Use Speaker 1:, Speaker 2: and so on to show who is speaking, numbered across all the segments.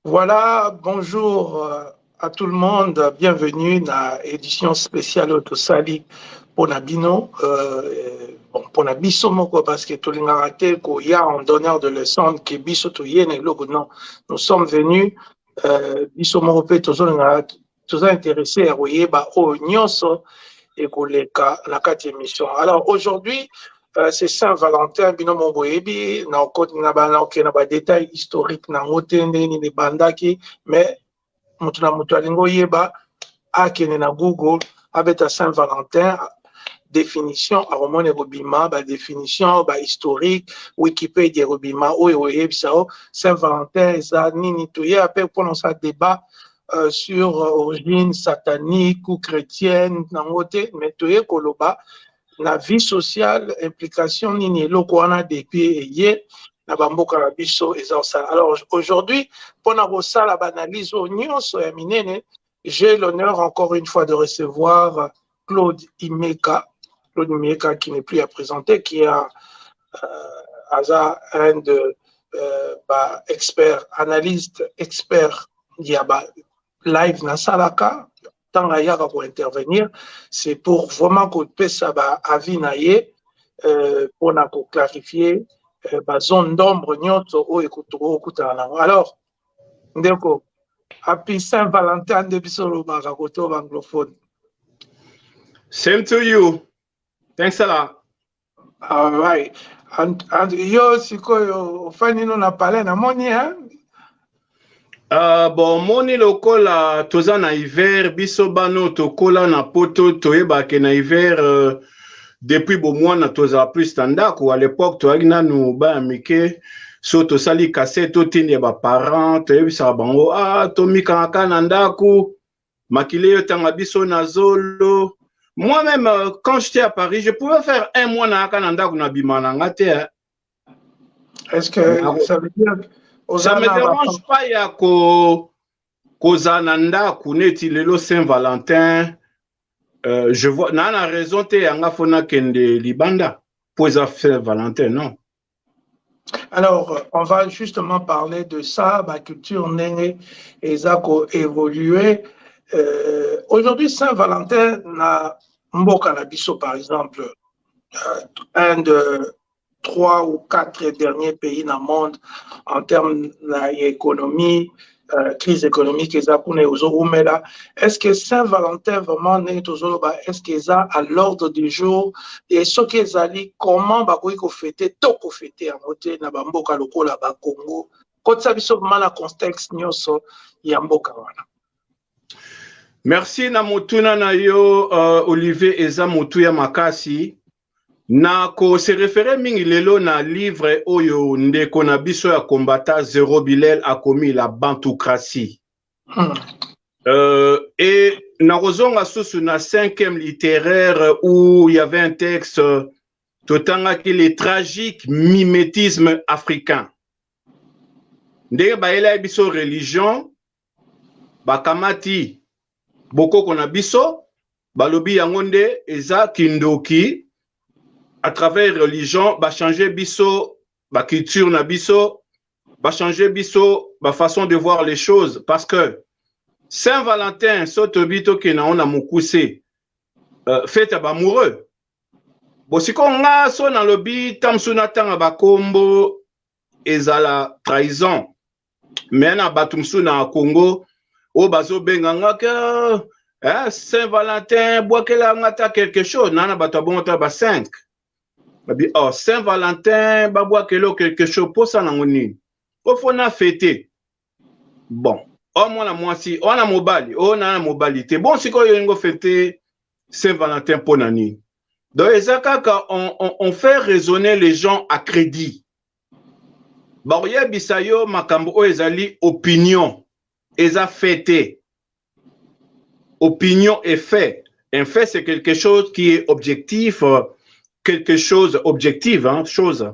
Speaker 1: Voilà, bonjour euh, à tout le monde, bienvenue na édition spéciale oyo tosali mpona bino euh, bon, mpona biso moko parce que tolingaka te koya en donneur de leçon ke biso toye na eloko non nous sommes venus euh, biso moko mpe tozolingaka toza interesse ya koyeba oyo nyonso ekoleka na kati ya émission alors aujourd'hui euh, c'est saint valentin bino mo boyebi na okoti na banaoke na badetail historique na yango te ndenge nini ebandaki mais moto na moto alingi oyeba akende na google abeta saint valentin définition akomona ekobima badéfinition bahistorique wikipedia ekobima oyo oyebisa o saint valentin eza nini toye ape mpona osala débat Euh, sur euh, origine satanique ou chrétienne nango te mais toye koloba na vie sociale implication nini eloko wana depuis eye na bamboka na biso eza kosala alors aujourd'hui mpona kosala baanalyse oyo nyonso ya minene j'ai l'honneur encore une fois de recevoir Claude Imeka, Claude Imeka qui n'est plus à présenter, qui est un, euh, aza un de euh, ba expert analyste expert ya ba live na salaka ntango ayaka ko intervenir c'est pour vraiment kopesa ba avis na ye euh, mpona ko clarifier euh, ba zone d'ombre nyonso oyo okutana nango alors ndeko happy saint valentin nde biso olobaka koto banglophone
Speaker 2: same to you thanks a lot all
Speaker 1: right and, and yo sikoyo ofandi no na palais namoni hein? Uh,
Speaker 2: bon omoni lokola toza na hiver biso bano tokola na poto toyebake na hiver uh, depuis bomwana tozala plus na ndako à l'époque toyaki nanu bana mike so tosali kase totindi ya baparent toyebisaka bango a ah, tomikangaka na ndako makila eyotanga biso na zolo moi-même euh, quand j'étais à paris je pouvais faire un mois nayaka na ndako na bima na nga te
Speaker 1: est ce que ça veut dire ça me
Speaker 2: dérange pas ya ko kozala na ndako neti lelo saint valentin euh, je vois naa na raison te yanga fo nakende libanda mpo eza saint valentin non
Speaker 1: Alors, on va justement parler de ça, ma culture née et Zako évoluer. Euh, Aujourd'hui, Saint-Valentin, na Mboka Nabiso, par exemple, euh, Inde, trois ou quatre derniers pays na monde en terme na économie euh, crise économique eza kuna ezoumela est ce que saint valentin vraiment ndenge tozoloba est ce que eza à l'ordre du jour et soki ezali comment bakoki kofete to kofete yango te na bamboka lokola bakongo kotisa biso vraiment na contexte nyonso ya mboka wana merci
Speaker 2: na motuna na yo uh, olivier eza motuya makasi Na ko se referer mingi lelo na livre oyo ndeko na biso ya combattant Zero Bilel akomi la Bantocratie. Hmm. Euh, et na kozonga susu na cinquième littéraire où il y avait un texte totangaki les tragiques mimétismes africains. Ndenge bayelaki biso religion bakamati bokoko na biso balobi yango nde eza kindoki à travers religion ba changer biso ba culture na biso ba changer biso ba façon de voir les choses parce que Saint Valentin so tobi tokena ona mukuse euh, fête ya bamoureux bosiko nga so nalobi tamsu natanga bakombo ezala trahison me na bato mosusu na congo oyo bazobenga nga ke eh, saint valentin bwakela nga ta quelque chose naa na bato ya bongo ta ba 5 babi oh, saint valentin babwakela o quelque chose mposa nango nini ofo na fete bon o oh, mwana mwasi oyo oh, na mobali oyo oh, naa na mobali te bon sikoyo olingo fete saint valentin mpo na nini donc eza kaka on, on, on fait raisonner les gens à crédit bakoyebisa yo makambo oyo ezali opinion eza fait te opinion et fait un fait c'est quelque chose qui est objectif euh, quelque chose objective hein, chose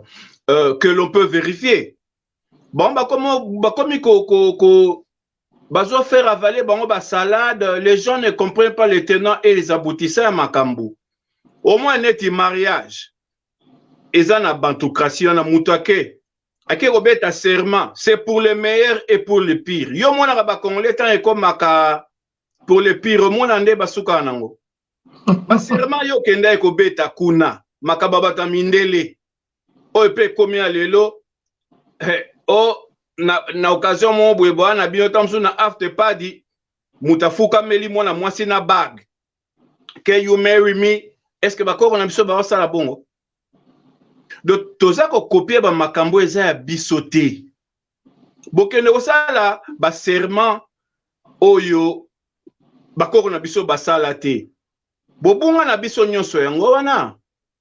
Speaker 2: euh, que l'on peut vérifier bon bakomi bakomi ko, ko, ko bazo faire avaler bango ba salade les gens ne comprennent pas les tenants et les aboutissants ya makambo au moins neti mariage eza na bantocratie wana moto ake ake kobeta serment c'est pour le meilleur et pour le pire yo omonaka bacongolais ntango ekomaka pour le pire omona nde basukaka nango basirema yo okendaki kobeta kuna makambo ya bato ya mindele oyo mpe ekomi ya lelo eh, o na, na occasion moko boye boya na bino ntango mosusu na afte padi moto afukameli mwana mwasi na bague ke you marry me estce bakoko na biso baosala bongo donc toza kokopie bamakambo eza ya biso te bokende kosala baserment oyo bakoko na biso basala te bobunga na biso nyonso yango wana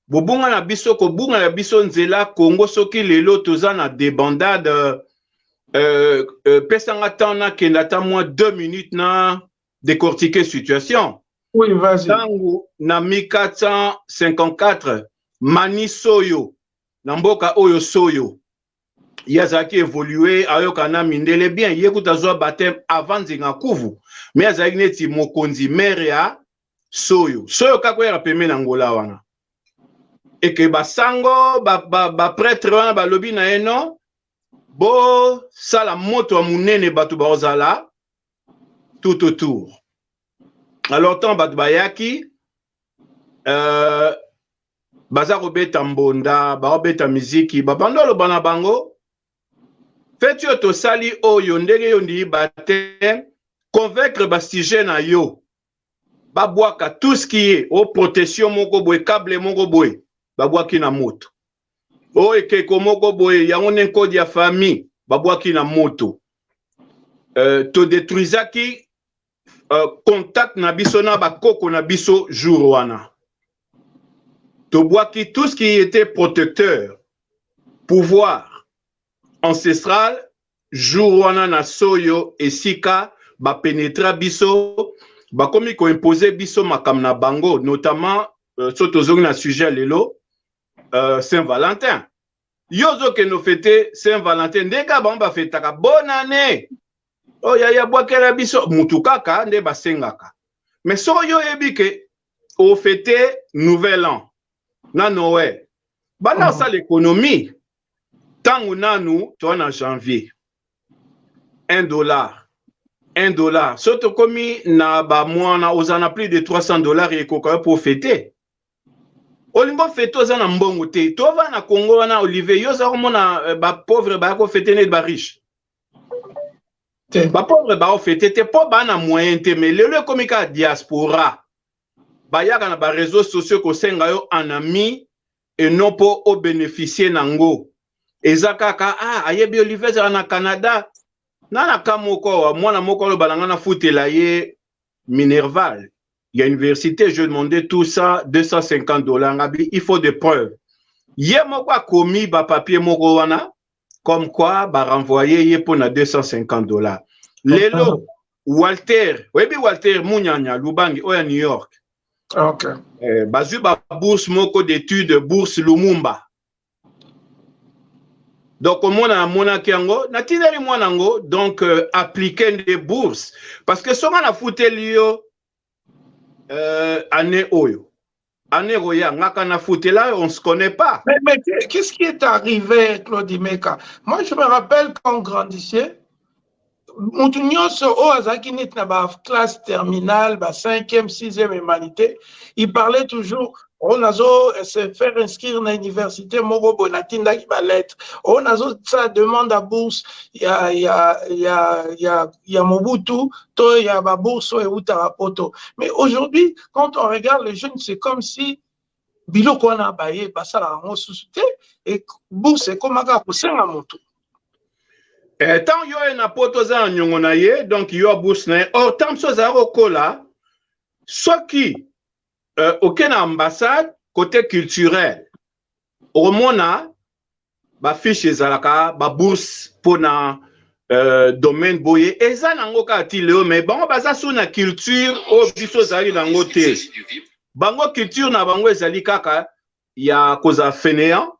Speaker 2: bobunga na biso kobunga na biso nzela congo soki lelo toza na debandade euh, euh, pesanga temps nakenda ata mwa 2 minutes na décortiquer situation oui, ntango
Speaker 1: na 1454
Speaker 2: mani soyo na mboka oyo soyo ye azalaki evolue ayoka na mindele bien ye kutu azwa bateme avant nzinga kuvu me azalaki neti mokonzi mere ya soyo soyo kaka oyaka peme na ngola wana eke basango bapretre ba, ba wana balobi na ye no bosala moto ya monene bato bakozala tout autour alors ntango bato bayaki euh, baza kobeta mbonda baobeta miziki babanda oloba na bango feti oyo tosali oyo ndenge yo ndii bateme convaincre basujet na yo babwaka tout ce qui est o protection moko boye cable moko boye babwaki na moto o ekeko moko boye yango nde nkodi ya famille babwaki na moto euh, todetruisaki uh, contact na biso na bakoko na biso jour wana tobwaki tout ce qui était protecteur pouvoir ancestral jour wana na soyo esika bapenetra biso bakomi koimpose biso makambo na bango notamment uh, so tozongi na sujet lelo uh, saint valentin yo ozokende ofete saint valentin ndenge bango bafetaka bonne année oh, ya, ya bwakela biso mutu kaka nde basengaka me soko yo oyebi ke ofete nouvel an na noel banda osala mhm. ekonomi ntango nanu toa na janvier 1 dollar 1 dollar so tokomi na bamwana oza na plus de 300 dollar ekoka yo mpo ofete olingo fete oza na mbongo te tova na kongo wana olivier yo oza komona eh, bapauvre baya kofete neti bariche te bapauvre baofete te mpo baa na moyen te mais lelo ekomi kaka diaspora bayaka na bareseau sociaux kosenga yo en ami eno mpo obeneficie na ngo eza kaka ah, ayebi olive ezala na canada na na ka moko mwana moko aloba na ngai nafutela ye minerval ya université je demande tout ça 250 dollars ngabi il faut de preuve ye moko akomi bapapier moko wana comme quoi ba renvoyer ye pona 250 dollars lelo Walter oyebi Walter Munyanya Lubangi oya New York okay. eh,
Speaker 1: bazwi ba
Speaker 2: bourse moko d'étude bourse Lumumba donc omona namonaki yango natindeli mwana yango donc euh, aplike nde bourse parce que soki nafuteli yo euh, année oyo année ekoya ngaka na futela on se connaît pas mais, mais qu'est-ce qui
Speaker 1: est arrivé Claude Meka moi je me rappelle quand on grandissait mutu nyonso oyo oh, azalaki neti na baclasse terminale ba 5e 6e humanité il parlait toujours oyo nazo se faire inscrire na université moko boye natindaki balettre oyo nazosala demande ya bourse ya, ya, ya, ya, ya mobutu to ya babourse oyo eutaka poto mais aujourd'hui quand on regarde les jeunes c'est comme si biloko wana baye basalaka yango susu te e bourse ekomaka kosenga motu
Speaker 2: eh, ntango yo ye na poto oza na nyongo na ye donc yo bourse na ye or ntango mosusu azala kokola soki euh, oke na ambassade côté culturel okomona bafiche ezalaka babourse mpo na euh, domaine boye eza nango kaka ti leo me bango baza so na culture oyo biso ezali nango te bango culture na bango ezali kaka ya kozala fainéant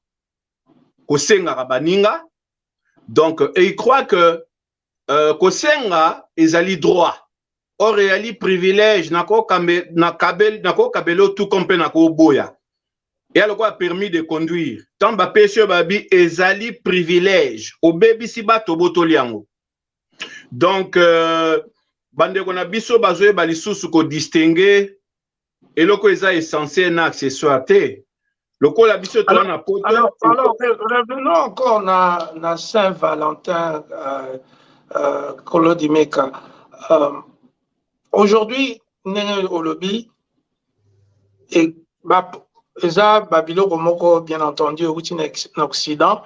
Speaker 2: kosengaka baninga donc et il croit que euh, kosenga ezali droit or eyali privilège nakokabela otuka mpe nakoboya eya lokola permis de conduire ntango bapesi oyo babi ezali privilège obebisi bato obotoli yango donc euh, bandeko na biso bazoyeba lisusu kodistingue eloko eza essentiel na accessoire te lokola biso toa na poto alors, alors
Speaker 1: revenons encore na, na saint valentin euh, euh, kolodimeka euh, aujourd'hui ndenge olobi e, ba, eza babiloko moko bien entendu euti na, na occident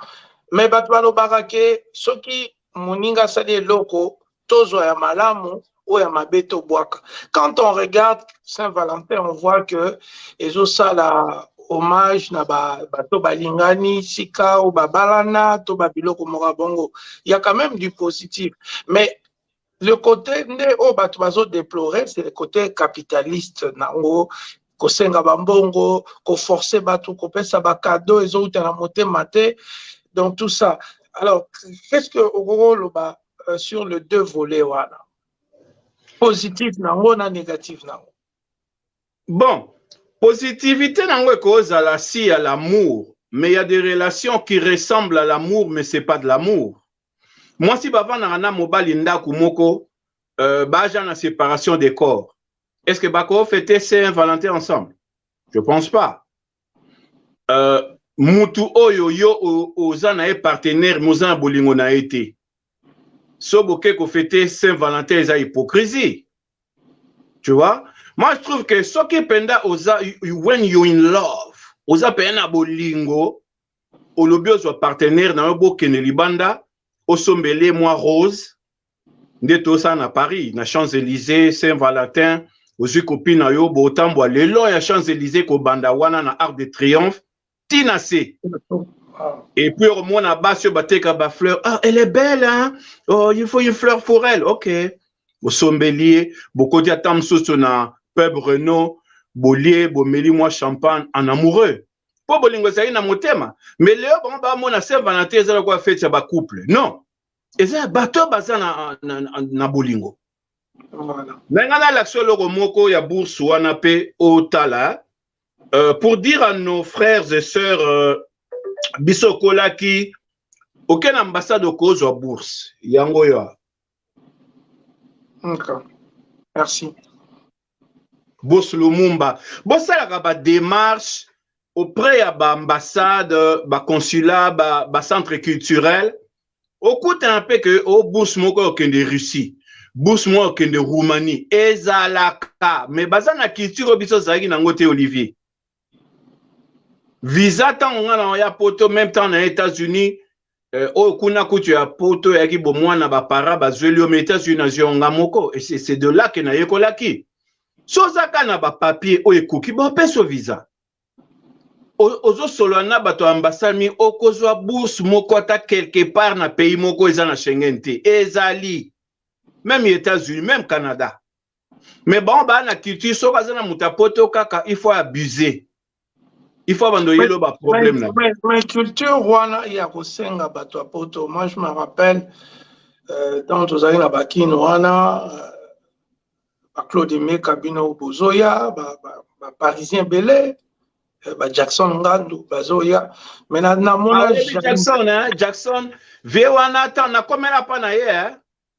Speaker 1: mais bato balobaka ke soki moninga asali eloko tozwa ya malamu oyo ya mabe tobwaka quand on regarde saint valentin on voit que ezosala hommage na bato balingani sika oyo babalana to babiloko moko ya bongo ya quand même du positif mais le côté nde oyo bato bazodeplore c'est le côté capitaliste na yango kosenga bambongo koforce bato kopesa bakado ezowuta na motema te donc tout ça alors qu'est ce que okoki oloba euh, sur le deux volet wana positif na yango na négatif na yango bon
Speaker 2: positivité na yango ekozala si ya l'amour mais il y a des relations qui ressemblent à l'amour mais c'est pas de l'amour mwasi bavandaka na mobali ndako moko euh, baja na séparation des corps est ce que bako fete saint valentin ensemble je pense pas euh, mutu oyo yo oza na ye partenaire moza na bolingo na ye te so boke kofete saint valentin eza hypocrisie tu vois moi je trouve que soki mpenza oza when you in love oza mpenza na bolingo olobi ozwa partenaire na yo bokende libanda osombele mwa rose nde tosala na paris na champs elysées saint valentin ozwi kopi na yo botambwa le long ya champs elysées kobanda wana na arc de triomphe ti na se et puis okomona basi oyo bateka bafleur ah, elle est belle hein? oh, il faut une fleur pour elle ok bosombeli ye bokoti ata mosusu na pub renault bolie bomeli mwa champagne en amoureux mpo bolingo ezali na motema mais leo bango bamona saint valentin eza lokola feti ya bacouple non eza ya bato oyo baza na, na, na, na bolingo voilà. me ngai nalakisa eloko moko ya bourse wana mpe otala euh, pour dire à nos frères et sœurs euh, biso okolaki oke na ambassade okozwa bourse yango oyo okay.
Speaker 1: merci
Speaker 2: Boss Lumumba, bosalaka ba démarches auprès ya ba ambassades, ba consulats, ba, ba centres culturels. Okutana mpe que o oh, bourse moko okende Russie, bourse moko okende Roumanie, ezalaka mais baza na culture oyo biso ozalaki nango te Olivier. visa ntango ngai na ya poto meme temps na états-unis eh, oyo kuna kutu ya poto yaki bomwana bapara bazweli yo ma états-unis nazwi yango nga moko c'est de là ke nayekolaki so ozaka na bapapier oyo ekoki bapeso visa ozosolola na bato ya ambasami okozwa bourse moko ata quelque part na pays moko eza na schengen te ezali meme états-unis meme canada mais bango baa na culture soki aza na moto ya poto kaka il faut abuse il faut bando yelo ba problème na mais, mais culture
Speaker 1: wana ya kosenga bato ya poto moi je me rappelle euh, tant tozali na bakine wana euh, baclaude meka bino bozoya baparisien ba, ba ebele euh, bajackson ngandu bazoya me namona ah, jackson,
Speaker 2: eh, jackson vie wana ata nakomela mpa na ye eh?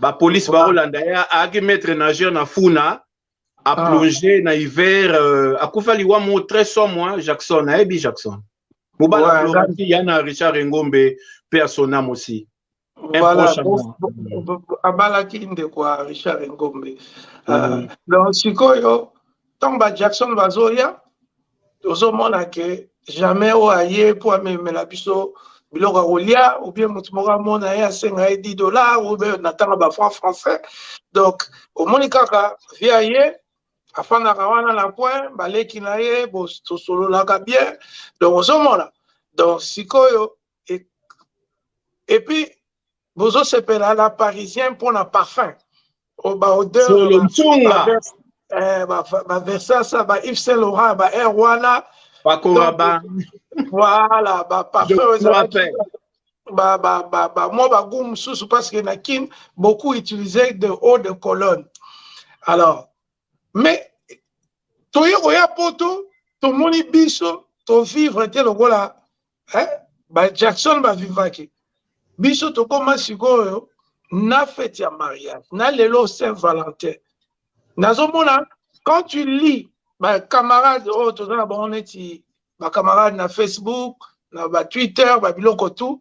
Speaker 2: ba police ba Hollanda ya aki maître nageur na funa a ah. plonger na hiver euh, akufa liwa mo très somme moi Jackson ayebi Jackson mobala Florenti ya na Richard Engombe pe à son âme aussi voilà
Speaker 1: abalaki ndeko ya Richard Engombe euh, mm. donc sikoyo ntango ba Jackson bazoya tozomona ke jamais oyo aye mpo amemela biso biloko ya kolia oubien moto moko amona ye asenga ye 10 dollar oubien na ntango ba franc français donc omoni kaka vie aye afandaka wana na coin baleki na ye tosololaka bien donc ozomona donc sikoyo Et, et puis, bozo sepela la parisien mpo na parfum oh, ba odeur solo nsunga eh, ba, ba Versace ba Yves Saint Laurent ba Air wana bakoma ba
Speaker 2: voilà
Speaker 1: ba parfum
Speaker 2: ezalaki ba ba ba ba mwa
Speaker 1: ba goût mosusu parce que na Kin beaucoup utiliser de eau de cologne alors mais toye koya poto tomoni biso tovivre te lokola eh? ba jackson bavivaki biso tokoma sikoyo na fete ya mariage na lelo saint valentin nazomona quand tu lis bacamarade oyo oh, toza na bango neti bacamarade na facebook na batwitter babiloko tout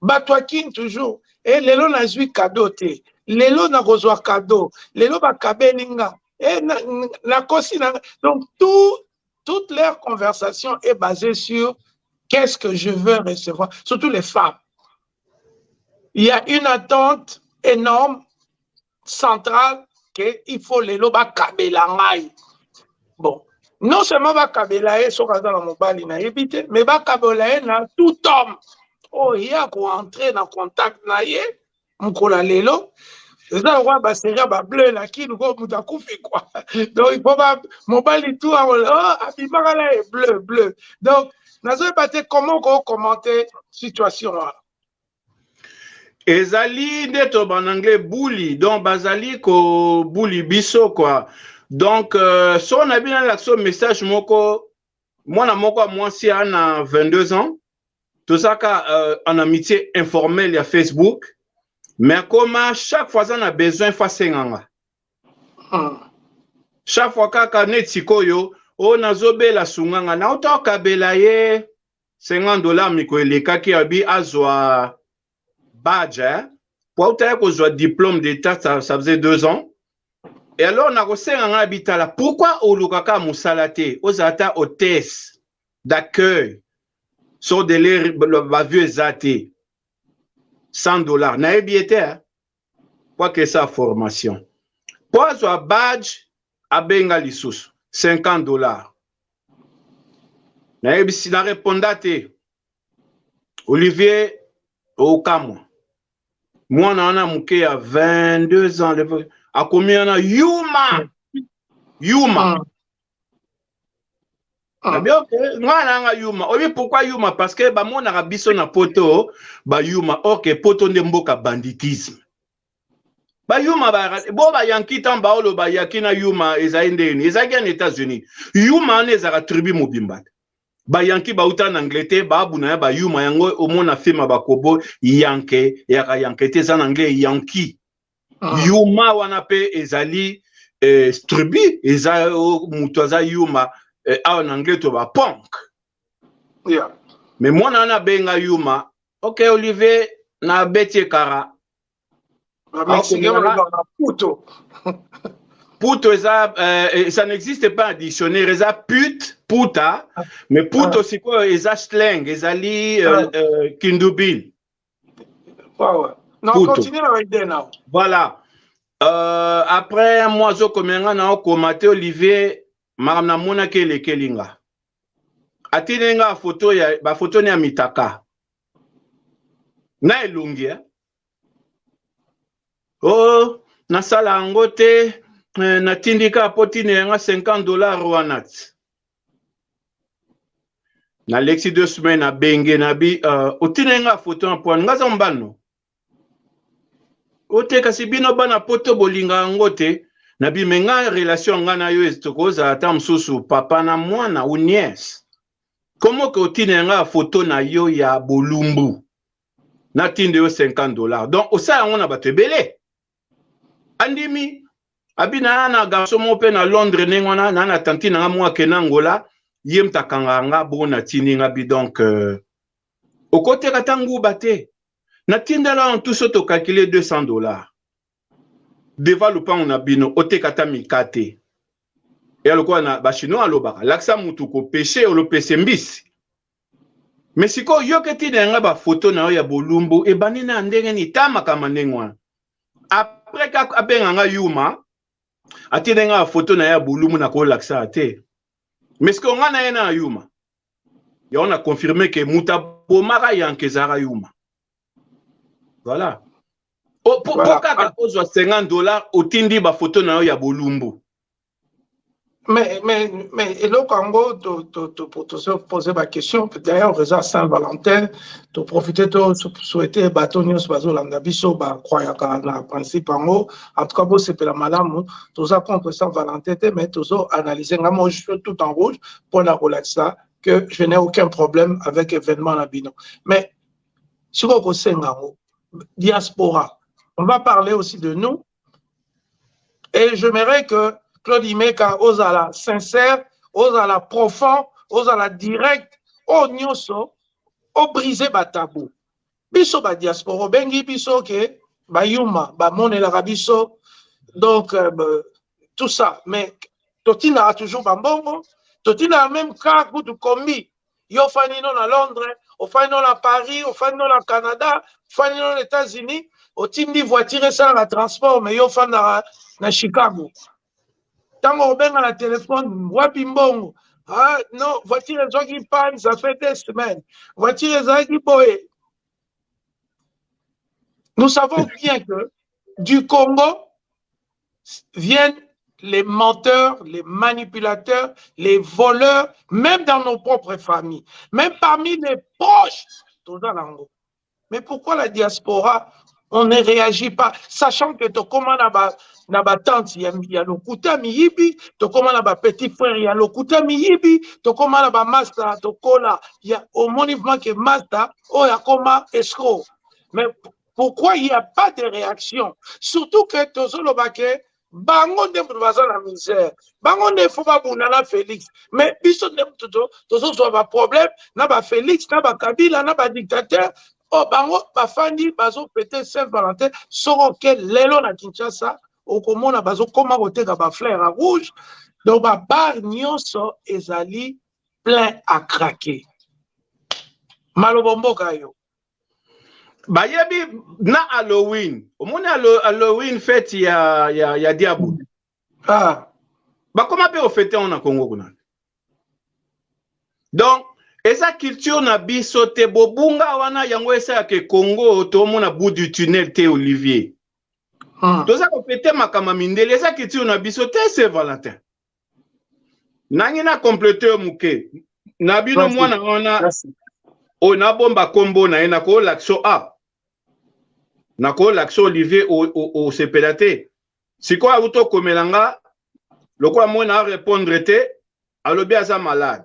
Speaker 1: bato ya kin toujours e lelo nazwi kado te lelo nakozwa kado lelo bakabeli nga e nakosi na donc tout Toutes leurs conversations est basée sur qu'est-ce que je veux recevoir, surtout les femmes. Il y a une attente énorme, centrale, qu'il faut les loba kabela ngai. Bon, non seulement ba kabela ye soki aza na mobali na ye bi te mais ba kabela ye na tout homme oyo ye akoentre na contact na ye mokolo ya lelo eza lokola baserie ya bableu na kini ko moto akufi kua donc ipo mobali tu oh, abimaka na ye bleu bleu donc nazoyeba te comment okokommente situation wana ezali
Speaker 2: nde to bananglais buli donc bazali kobuli biso kua donc euh, so na bino alakisa message moko mwana moko ya mwasi ana 22 ans tozaka euh, en amitié informel ya facebook mais akoma chaque fois aza na besoin fo asenga nga hmm. chaque fois kaka neti sikoyo o oh, nazobela sunga nga nauta okabela ye 50 dollar miko elekaki abi azwa badge eh? po autaki kozwa diplôme d'état ça, ça faisait deux ans e alors nakosenga ngai bitala pourkui olukaka mosala te ozala ata hotesse d'accueil so dele bavio eza te 100 dollars nayebi ye te po akesa formation po azwa badge abenga lisusu 50 dollars nayebisi na reponda te olivier okamwa mwana wana moke ya 22 ans akomi wana yuma yuma ah. Ah. Bien, ok. Nga nanga yuma. Obi pourquoi yuma? Parce que ba mona biso na poto, ba yuma. Ok, poto nde mboka banditisme. Ba yuma ba bo ba yanki tan ba olo ba yaki na yuma ezali ndeni. Ezaki en États-Unis. Yuma ne ezaka tribu mobimba. Ba yanki ba uta na Angleterre, ba abuna ya ba yuma yango omona film ba kobo yanke, yaka yanke te za na anglais yanki. ah. yuma wana pe ezali eh, tribu eza oh, mutu aza yuma eh, awa na anglais to ba punk yeah.
Speaker 1: me mwana
Speaker 2: wana abenga yuma ok olivier na beti ekara
Speaker 1: puto
Speaker 2: puto eza eh, ça n'existe pas en dictionnaire eza pute puta mais puto ah. sikoyo eza slang ezali euh, ah. euh, kindubin
Speaker 1: voilà
Speaker 2: euh, après moi azokomela nga na okoma te olivier makambo namonaki elekeli nga atindeli nga bafoto ya bafoto ne ya mitaka na elongi eh? o oh, nasala yango te eh, natindi kaka mpo tinela nga 50 dollar wana ti na lexi deux semaines na benge na bi uh, otindeli nga foto na pwana nga aza mbano ote kasi bino bana poto bolinga yango te na bi me nga relation nga na yo tokozala ata mosusu papa na mwana ou nièce komo ke otindeli nga foto na yo ya bolumbu natinde yo 50 dollars donc osala yango na bato ebele andimi abi na na garçon moko mpe na londres ndenge wana na na tanti na nga moko ake na angola ye mta akangaka nga bongo natindi nga bi donc euh, okoteka ata nguba te natindela wana tuso tokalkile 200 dollars deva lupango na bino oteka ata mika te ya lokola na bachinois alobaka lakisa mutu kopeshe olopese mbisi Mais sikoyo yo ke tina yanga ba photo na yo ya bolumbu ebandi na ndenge ni ta makambo ndenge wana après ka abenga nga yuma atine nga photo na ya bolumbu na ko lakisa te mais sikoyo nga na ye na yuma yango na confirme ke muta bomaka yanke ezalaka yuma voilà po kaka ozwa 50 dollars otindi ba photo na yo ya bolumbu Mais, mais,
Speaker 1: mais eloko yango topose baquestion d'ailleurs eza saint valentin toprofite tosouhaite bato nyonso bazolanda biso bacroyaka na principe yango en tout cas bosepela malamu toza contre saint valentin te mais tozo analyse nga moi je suis tout en rouge mpo na kolakisa que je n'ai aucun problème avec événement na bino mais sikoyo kosenga yango diaspora on va parler aussi de nous et j'aimerais que Claude Imeka ozala sincère ozala profond ozala direct oyo oh, nyonso obrise batabou biso ba diaspora obengi biso ke bayuma bamonelaka biso donc euh, tout ça mais totindaka toujours bambongo totindaka même car kutu kombi yo ofandi no na londres ofandi no na paris ofandi no na canada ofandi no na états-unis otindi voiture esalaka transport me yo ofandaka na chicago ntango okobenga na telefone wapi mbongo ah, no voiture ezwaki panne ça fait des semaines voiture ezalaki boye nous savons bien que du congo viennent les menteurs, les manipulateurs, les voleurs, même dans nos propres familles, même parmi les proches, Mais pourquoi la diaspora, on ne réagit pas, sachant que Tokoma na ba tante ya, ya lokuta miyibi, Tokoma na ba petit frère ya lokuta miyibi, Tokoma na ba masta, Tokola, ya, au mouvement que masta, oh, ya koma escroc. Mais pourquoi il y a pas de réaction surtout que tozoloba ke bango nde moto baza na misère bango nde fo babunda na félix mais biso nde moto tozozwa baproblème na bafélix na bakabila na badictateur oyo oh, bango bafandi bazopete saint valentin soko oke lelo na kinshasa okomona bazokoma koteka bafleur ya rouge donc babar nyonso ezali plein à craquer maloba mboka yo
Speaker 2: bayebi na halloween omoni halloween fete ya, ya, ya diabo ah.
Speaker 1: bakoma
Speaker 2: mpe ofete yango na congo kuna donc eza culture na biso te bobunga wana yango esalaka congo tomona bout du tunnel te olivier ah. toza kofete makambo mindele eza culture na biso te se valentin nangi na complete yo moke na bino mwana wana oyo nabomba nkombo na ye nakoolakisa a nakoolakisa olivier osepela te sikoyo auti okomela nga lokola moi na arepondre te alobi aza malade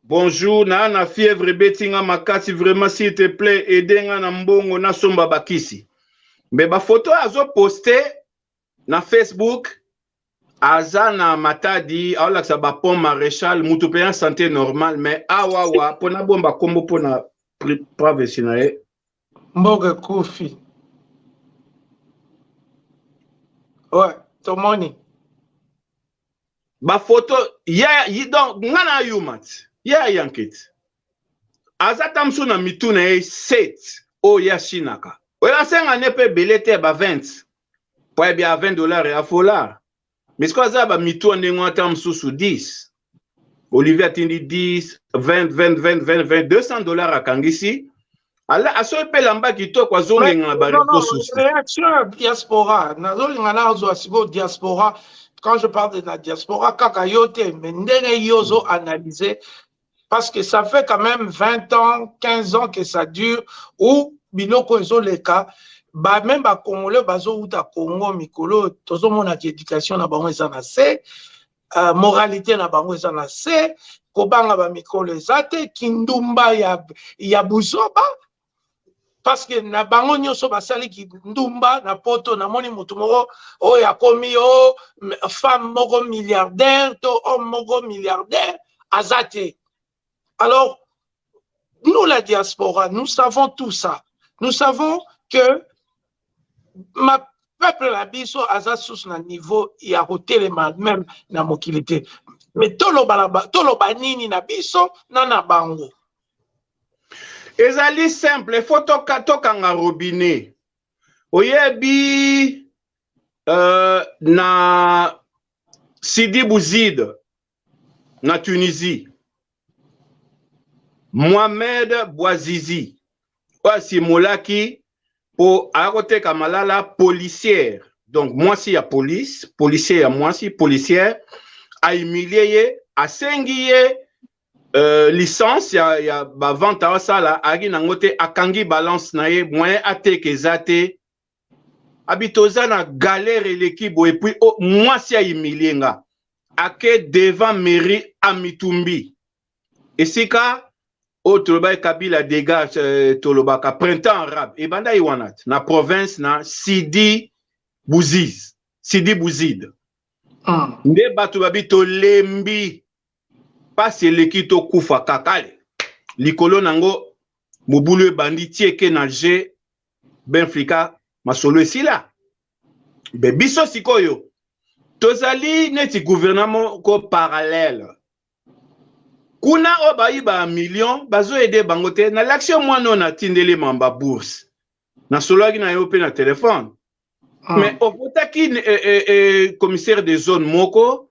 Speaker 2: bonjour naa na fièvre ebeti nga makasi vraiment s'il te plaît aide nga na mbongo nasomba bakisi mbe bafoto oyo azoposte na facebook aza na matadi aolakisa bapont maréchal mutu mpe ya santé normal mais awawa mpo nabomba nkombo mpo na privacy na ye mboka
Speaker 1: ekufi ouais tomoni
Speaker 2: bafoto ya donc nga na yuma ti ye ayanke ti aza ta mosusu na mitu na ye set oyo ye asinaka oyo asenga nde mpe ebele te ba 20 mpo ayebi ya 20 dollars ya fola mais sikoyo aza ya bamitu ya ndenge ata mosusu 10 olivier atindi 10 20 20 20 20 200 dollars akangisi ala asoki mpe lamba kitoko azongenga na bareseau socialreaction
Speaker 1: diaspora nazolinga na azwa sikoyo diaspora quand je parle de la diaspora kaka yo te mais ndenge yo ozo analyse parce que ça fait quand même 20 ans 15 ans que ça dure ou biloko ezoleka ba même ba congolais bazowuta congo mikolo tozomona ki éducation na bango eza na se uh, moralité na bango eza na se kobanga bamikolo eza te kindumba ya, ya buzoba parce que na bango nyonso basali kindumba na poto namoni motu moko oyo akomi o oh, femme moko milliardaire to homme moko milliardaire aza te alors nous la diaspora nous savons tout ça nous savons que ma peuple na biso aza susu na niveau ya kotelema meme na mokili te mais toloba nini na biso na na bango ezali
Speaker 2: simple il faut toka tokanga robinet oyebi euh, na Sidi Bouzid na Tunisie Mohamed Bouazizi oyo asimolaki mpo aya koteka malala policière donc mwasi ya police policier ya mwasi policière ahumilie ye asengi ye Euh, licence ya, ya bavente asala ayaki nango te akangi balance na ye moyen ateka eza te abi toza na galere eleki boye epuis oh, mwasi aimilie nga ake devant mairie amitumbi esika oyo oh, tolobaki kabila degage euh, tolobaka printemps arabe ebandaki wana te na province na sidi buziz sidi buzid ah. nde bato babi tolembi pasi eleki to kufa kaka ale likolo nango mobulu ebandi tieke na je benflika masolo esila be biso sikoyo tozali neti gouvernement ko parallèle kuna oyo bayi ba million bazo aide bango te na lakisi yo mwana oyo natindeli mamba bourse nasololaki na yo mpe na telefone ah. mais ovotaki eh, eh, eh, commissaire de zone moko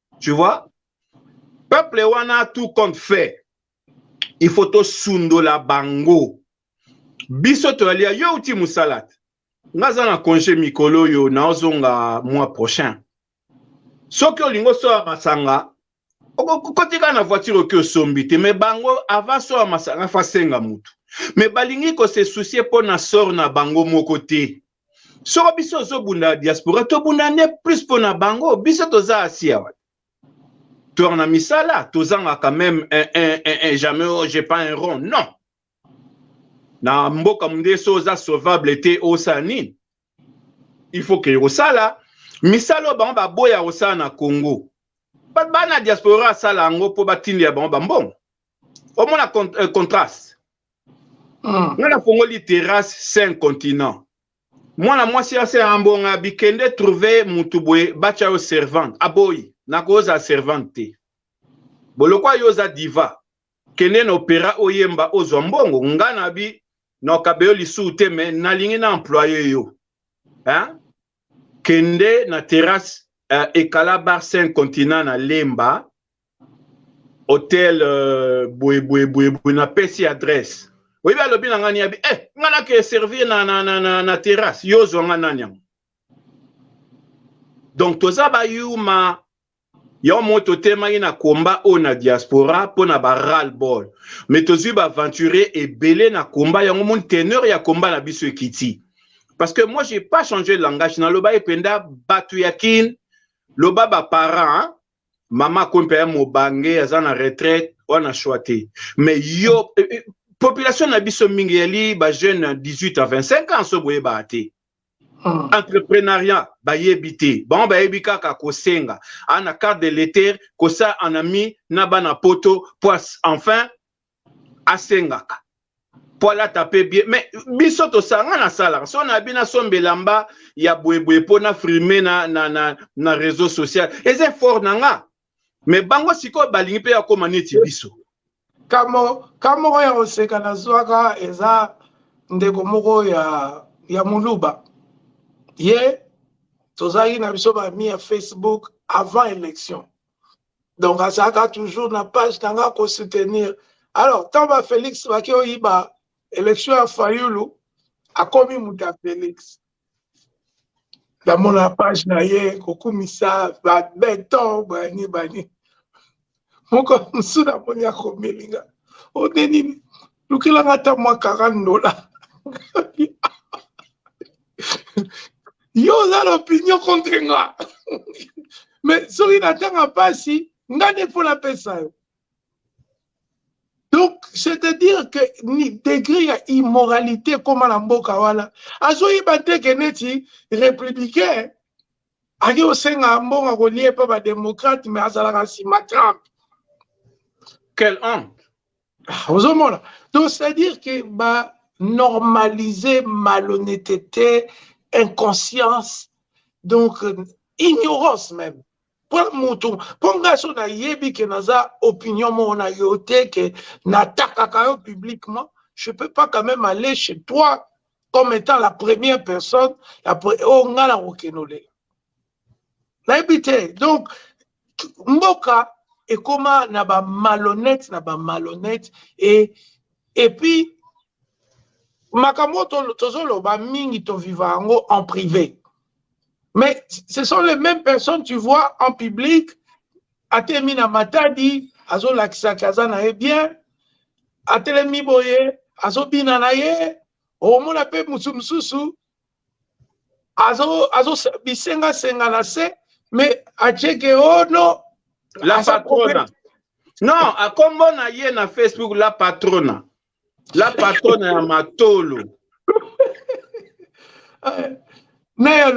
Speaker 2: tu vois peuple wana tout compte fait il faut tosundola bango biso toyalia yo uti mosala te nga aza na congé mikolo oyo naozonga mois prochain soki olingi osoya masanga okokoti kaka na voiture oki osombi te me bango avant soya masanga fa senga motu me balingi kose soucie mpo na sor na bango moko te soko biso ozobunda diaspora tobunda nde plus mpo na bango biso toza asia wana toyaka na misala tozangaka meme un, un, un, un, jamais oh, j'ai pas un rond non na mboka munde so oza sauvable te osala nini il faut ke osala misala oyo bango baboya kosala na congo bato baa na diaspora asala yango mpo batindela bango bambongo omona euh, contraste ah. nga nafongoli terrasse cinq continent mwana mwasi ya se ambonga bikende trouve mutu boye batya yo servante aboyi nakoza servante te bolokwa yo oza diva kende na opera oyemba ozwa mbongo nga na bi nokabe yo lisusu te me nalingi na employe yo hein? kende na terrasse uh, ekala bar cinq continent na lemba hotel euh, boye boye boye boye na pesi adresse oyebi alobi na ngai niabi eh ngai nake servir na, na, na, na, na terrasse yo ozwa ngai nani yango donc toza bayuma yango moko totemaki na komba oyo na diaspora mpo na baral ball mais tozwi baaventurier ebele na komba yango moni teneur ya komba na biso ekiti parce que moi j'ai pas changé langage nalobaki mpenza bato ya kin loba baparent mama akomi mpe ya mobange aza na retraite wana shwa te mais yo eh, eh, population na biso mingi yali ba jeune 18 à 25 ans so boyebaka te hmm. entrepreneuriat bayebi te bango bayebi kaka kosenga ana ah, carte de leter kosa en ami na bana poto po enfin asengaka mpo alata mpe bie me biso tosanga nasalaka so nayebi nasomba elamba ya boyeboye mpo na frime na, na, na, na réseau social eza effort na nga me bango sikoyo balingi mpe akóma neti biso kambo
Speaker 1: ka moko ya koseka nazwaka eza ndeko moko ya, ya moluba ye tozalaki na biso bami ya facebook avant élection donc azalaka toujours na page na nga ko soutenir alors ntango ba félix baki oyiba élection ya fayulu akomi moto ya félix namona page na ye kokumisa babeton bani bani moko mosusu namoni akomelinga odenini lukela nga ata mwa 40 dola yo oza na opinion contre nga me soki natanga mpasi nga nde mpo napesa yo donc c'est-à-dire que ni degré ya immoralité ekóma na mboka wana azoyeba te ke neti républicain ake kosenga mbongo akolie mpe badémocrate me azalaka nsima trump
Speaker 2: quel honte Ah, ozomona
Speaker 1: donc c'est à dire que ba normaliser malhonnêteté inconscience donc euh, ignorance même mpo motu mpo ngai so nayebi ke naza opinion moko na yo te ke natakaka yo publiquement je peux pas quand même aller chez toi comme étant la première personne oyo oh, ngai nakokende olela nayebi te donc mboka ekoma na ba malhonnête na ba malhonnête et et puis makambo tozoloba mingi toviva yango en privé mais ce sont les mêmes personnes tu vois en public atemi na matadi azolakisaki aza na ye bien atelemi boye azobina na ye omona mpe mosusu mosusu azo azo bisenga senga na se mais acheke oh non la
Speaker 2: patrona non akombo na ye na facebook la patrona la patrona ya matolo
Speaker 1: eh, mais ya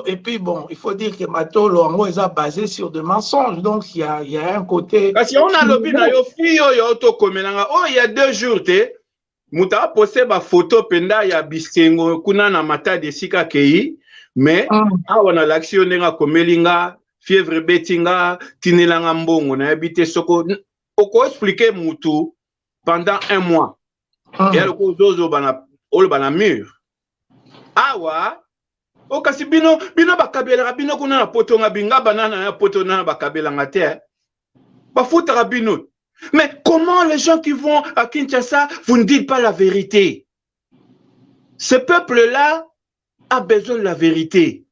Speaker 1: et puis bon il faut dire que matolo yango eza basé sur de mensonges donc il y a, y a un côté kasi yango nalobi na
Speaker 2: yo fille oyo tokomelanga oyo oh, ya deux jours te moto apose bafoto mpenza ya bisengo kuna na matadi esika akei me mm. awa nalakisi yo ndenge akomeli nga fievre ebeti nga tinela nga mbongo nayebi te soko okoexplike motu pendant un mois mm. eya lokola ozozobana oloba na mur awa o kasi bino bino bakabelaka bino kuna na poto nga binga banana ya poto nana bakabelanga te bafutaka bino mais comment les gens qui vont à kinshasa vous ne dites pas la vérité ce peuple là a besoin de la vérité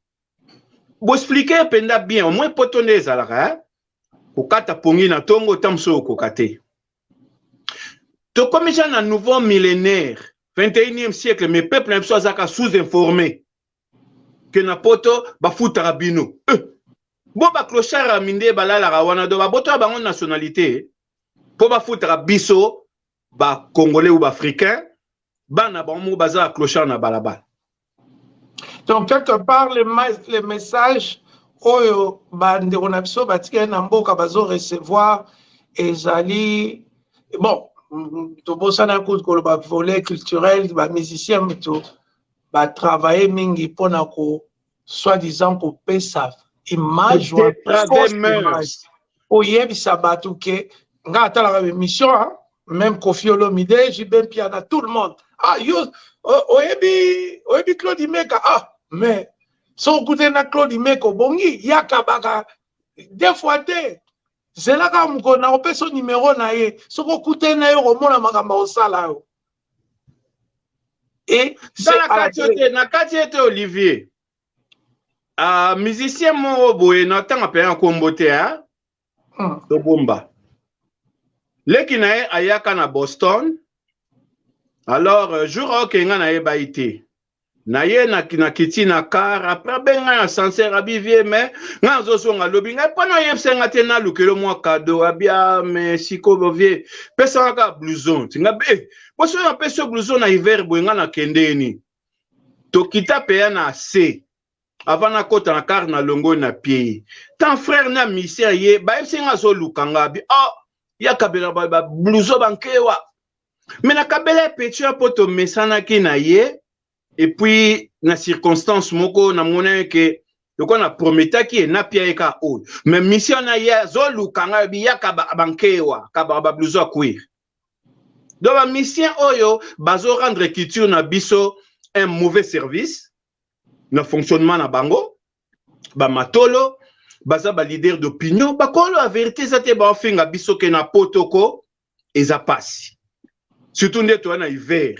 Speaker 2: boexplike mpenza bien omoi poto nde ezalaka eh? kokata pongi na ntongo ota mosusu okoka te tokomisa na nouveau millénaire 21e siècle mais peuple na biso azalaka sous-informé que na poto bafutaka bino eh. bo baclochard ya minde balalaka wana do babotola bango nationalité mpo bafutaka biso bacongolais ou baafricain bana bango moko baza baclochard na balabala
Speaker 1: donc quelque part le, le message oyo bandeko na biso batikali na mboka bazo recevoir ezali bon tobosana kutu koloba volet culturel bamusicien moto ba travailler mingi pona ko soit disant ko pesa image wa fausse image oyebisa batu ke nga atalaka emission hein? même Kofi Olomide, JB Piana, tout le monde. Ah, yo, oh, oyebi, oyebi Claude Imeka. Ah, mais, so goûter na Claude Imeka, bongi, yaka baka, des fois te. Zelaka mukona, opeso numéro na ye. Soko kute na yo, omona makamba osala yo. et
Speaker 2: na kati ete olivier uh, musicien moko boye na ntanga mpe ya kombo te hmm. tobomba leki na ye ayaka na boston alors euh, jour aokenga na ye bayi te na ye na nakiti na car après abenga ya ascenseur abi vie mais nga azozonga alobi ngai mpo na oyebisa nga te nalukelo mwa kado abi a ah, mais sikoyo vie pesa nga kaka blouson ti nga be eh, po soki napesi yo blouson na hiver boye nga nakendeni tokita peya na se avant nakota na car na longoi na pie ye tant frère na misère ye bayebisi nga azoluka nga abi a ah, yakabela blouson bankewa me na kabela ya pecho ya mpo tomesanaki na ye epuis na circonstance moko namonaki ke lokola na prometaki ye napia ye kaka oyo me misio wana ye azoluka ngai obi yaka bankewa kabaka babluzo ya queer donc bamisien oyo bazo rendre culture na biso un mauvais service na fonctionnement na bango bamatolo baza ba leader d'opinion bakolo ya verité eza te baofinga biso ke na poto ko eza pasi surtout nde toya na hiver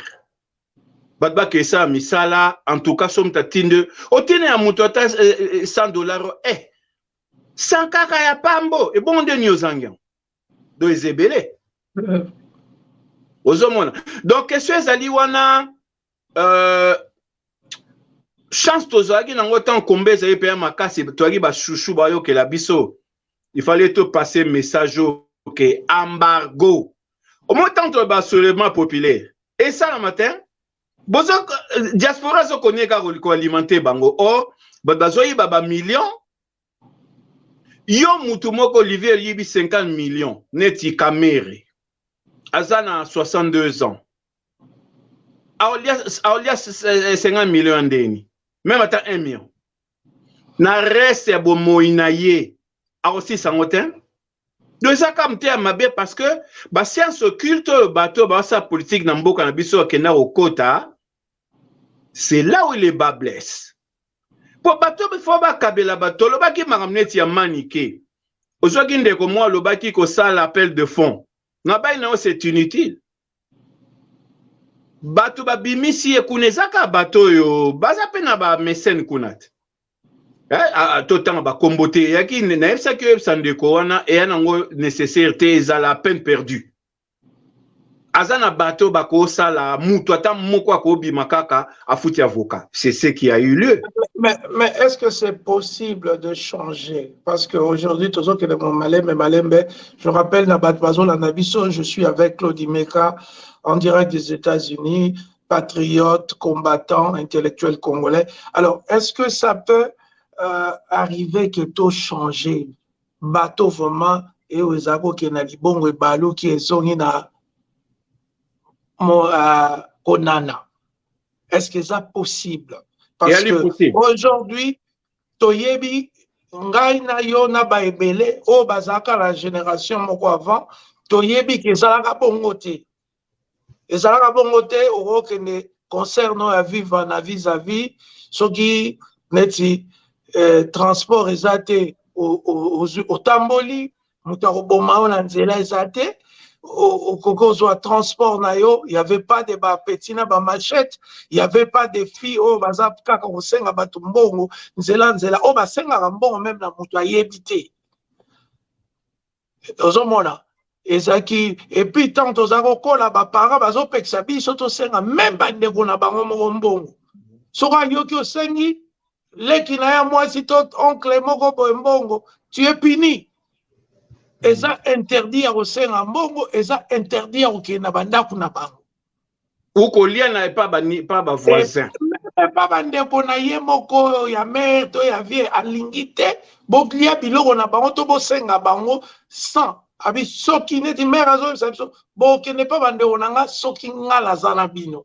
Speaker 2: bato bakesala misala en tout cas somi tatinde otina ya moto ata 100 eh, eh, eh, dollar eh sans kaka ya pambo ebongo nde nini ozangi yango do eza ebele ozomona donc question ezali wana euh, chance tozalaki nango ntango komba ezali mpenza makasi toyaki bashushu bayokela biso il fallait topase message oyo ke embargo omo ntango toyeba soulèvement populaire esalama te bozo euh, diaspora azokonie kaka koalimente bango or bato bazoyiba bamillion yo mutu moko olivier oyibi 50 million neti kamere aza na 62 ans aolia 50 million ya ndeni meme ata 1 million na reste ya bomoi na ye akosilisa yango te donc eza kaka moteya mabe parce que basiance occulte oyo bato oyo basala politike na mboka na biso bakenda kokota c'est là où le bas blesse mpo bato bifo bakabela bato olobaki makambo neti ya manike ozwaki ndeko mwa alobaki kosala appel de fond ngabai na yo c'est inutile Batu ba bimisi ye kuna eza ka bato oyo baza pe na ba mecene kuna te eh, to tanga ba kombo te yaki nayebisaki oyebisa ndeko wana eya nango necessaire te eza la peine perdue aza na bato bakosala mutu ata moko akobima kaka afuti avocat c'est ce qui a eu lieu mais, mais est-ce
Speaker 1: que c'est possible de changer parce que aujourd'hui tozokende mo malembe malembe je rappelle na bato bazolanda biso je suis avec claude imeka en direct des états-unis patriote combattant intellectuel congolais alors est ce que ça peut euh, arriver que to changer bato vraiment eyo eza kokende na libongo ebaluki ezongi na mo, uh, konana est ce que eza possible parce que aujourd'hui toyebi ngai na yo na ba ebele oyo bazalaka na generation moko avant toyebi ke ezalaka bongo te ezalaka bongo te okokende concert no ya viva na vis à vis soki neti eh, transport eza te otamboli moto akoboma yo na nzela eza te okoki ozwa transport na yo y avait pas de bapeti na bamachete y avait pas de fille oyo baza kaka kosenga bato mbongo nzela nzela oyo basengaka mbongo meme na moto ayebi te ozomona ezalaki epuis ntango toza kokola baparent bazopekisa biso tosenga meme bandeko na bango moko mbongo soki ayoki osengi leki na ya mwasi to oncle moko boye mbongo tu es puni eza interdit ya kosenga mbongo eza interdit ya kokende na bandako na bango okolia
Speaker 2: na epa bavoisin epa bandeko
Speaker 1: na ye moko ya mare to ya vie alingi te bolia biloko na bango to bosenga bango sans abi soki neti mare azoyebisa biso bokende mpa bandeko na nga soki nga naza na bino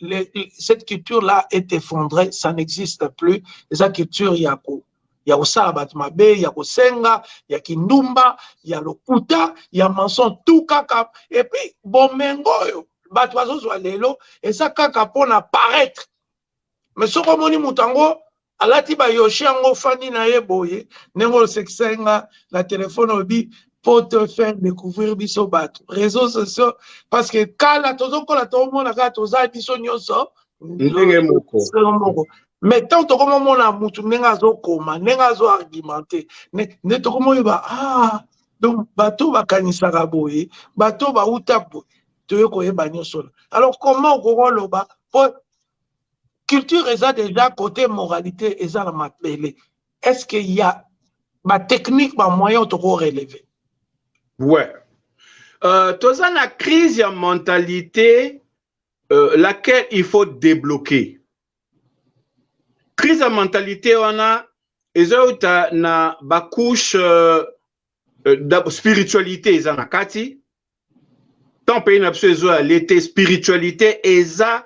Speaker 1: les, cette culture là est effondrée ça n'existe plus eza culture ya ko ya kosala bato mabe ya kosenga ya kindumba ya lokuta ya manson tout kaka epuis bomengo oyo bato bazozwa lelo eza kaka mpona paraitre mais soki omoni moto yango alati ba yoshi yango ofandi na ye boye ndenge osekisa ye nga na telefone obi po te faire découvrir biso bato réseaux sociaux parce que kala tozokola tomona kaka toza biso nyonso ndenge moko moko mais ntango tokomomona motu ndenge azokoma ndenge azoargumente nde tokomoyeba ah donc bato bakanisaka boye bato bauta boye toye koyeba nyonso na alors comment okoki oloba po culture eza deja cote moralité eza na mabele est ce que ya ba technique ba moyen toko relever ouais
Speaker 2: euh, toza na crise ya mentalité euh, laquelle il faut débloquer crise ya mentalité wana ezouta na bacouche euh, euh spiritualité eza na kati tant pays na biso ezo ya lete spiritualité eza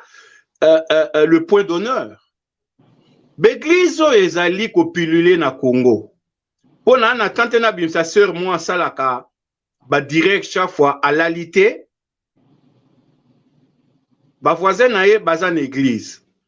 Speaker 2: euh, euh, euh, le point d'honneur baeglise oyo ezali kopilule na congo mpo na na tante na bimisa sœur mwa asalaka badirect chaque fois alali te bavoisin na ye baza na eglise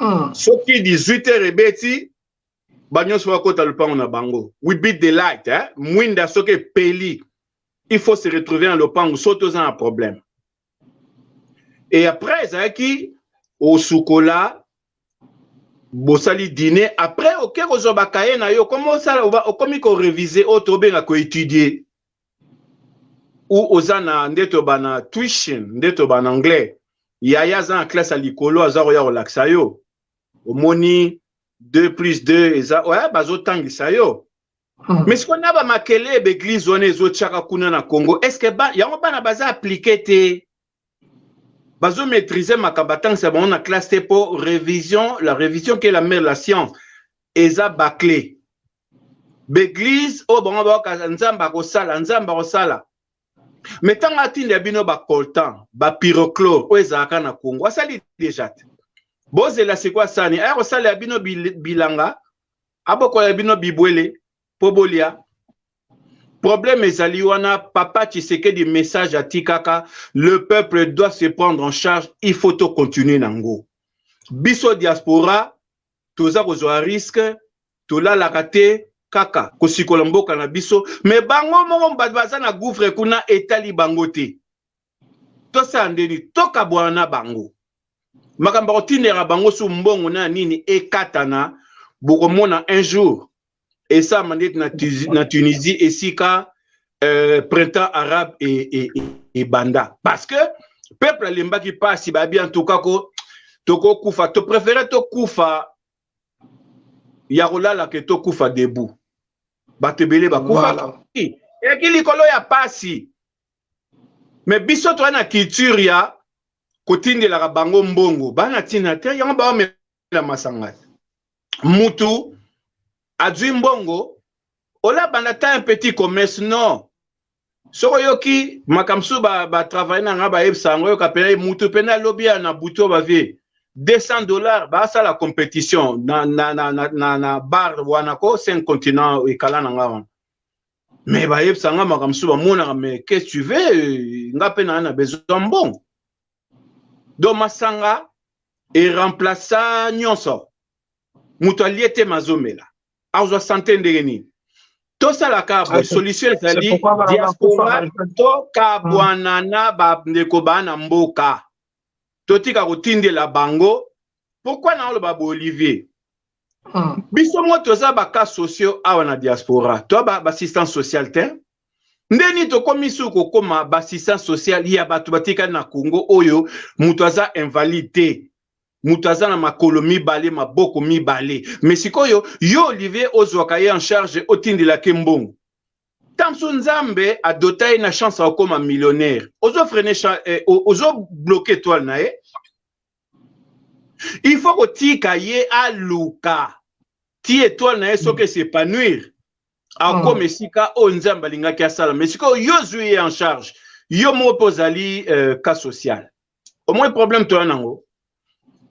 Speaker 2: mm. soki 18 heures ebeti banyonso bakota lopango na bango we beat the light eh? mwinda soki epeli il faut se retrouver na lopango so toza na problème et après ezalaki osukola bosali dîner après oke kozwa bakaye na yo okomi osala okomi korevise oyo tobenga koétudie ou oza na nde toba na tuition nde toba na anglais yaya aza na classe ya likolo aza koya kolakisa yo omoni 2 plus 2 eza ouais, bazotangisa yo Hmm. mais sikoyo na bamakele ya baeglize wana ezotyaka kuna na congo estce ba, yango bana baza aplike te bazo maîtriser makambo atangisa bango na classe te mpo révision la révision qui est la mère la science eza baclé baeglise oyo bango bayoka nzambe akosala nzambe akosala me ntango atinda bino bacoltan bapyroclore oyo ezalaka na congo asali deja te bozela sikoyo asani aya kosalela bino bilanga abokolela bino bibwele mpo bolia problème ezali wana papa tshisekedi message atikaka le peuple doit se prendre en charge il faut to continuer nango biso diaspora toza kozwa risque tolalaka te kaka kosikola mboka na biso me bango moko bato baza na gouffre kuna etali bango te tosala ndeni tokabwana na bango makambo akotindela bango su mbongo na nini ekatana bokomona un jour esalama ndeti na tunisie esika euh, printemps arabe ebanda e, e, e parce que peuple alembaki mpasi babi en tout cas ko tokokufa topréféré tokufa ya kolala ke tokufa debout bato ebele bakufaki eyaki likolo ya mpasi me biso toa na culture ya kotindelaka bango mbongo bana tina te yango baomela masanga te mutu azwi mbongo ola banda ta un petit commerce non soki oyoki makambo mosusu batravaille na nga bayebisa yango oyoka mpena mutu mpena lobi ya na butu bavie 200 dollars basala compétition na, na, na, na, na, na bar wana ko 5 continent ekala na nga wana mais bayebisa nga makambo mosusu bamonaka mais qu'est-ce tu veux euh, nga mpe naa na besoin mbongo donc masanga eremplaça nyonso moto alie te mazomela azwa sante ndenge nini tosalaka ah, boye solution ezali diaspora to kabwana hmm. na bandeko baa na mboka totika kotindela bango pourkui naoloba boolivier Mm. biso moko toza bacas sociaux awa na diaspora toa baassistance ba sociale te nde nini tokomi suku kokoma baassistance sociale ya bato batikali na congo oyo moto aza invalide te moto aza na makolo mibale maboko mibale me sikoyo yo olivier ozwaka ye en charge otindelaki mbongo ntango mosusu nzambe adota ye na chance akokoma millionnaire ozofrene eh, ozobloke etoile na ye il faut kotika ye aluka ti etoile na ye soki esepanouir akoma mm. esika oyo oh, nzambe alingaki asala mais sikoyo yo ozwi ye en charge yo moko mpe ozali euh, cas social omoi problème toya nango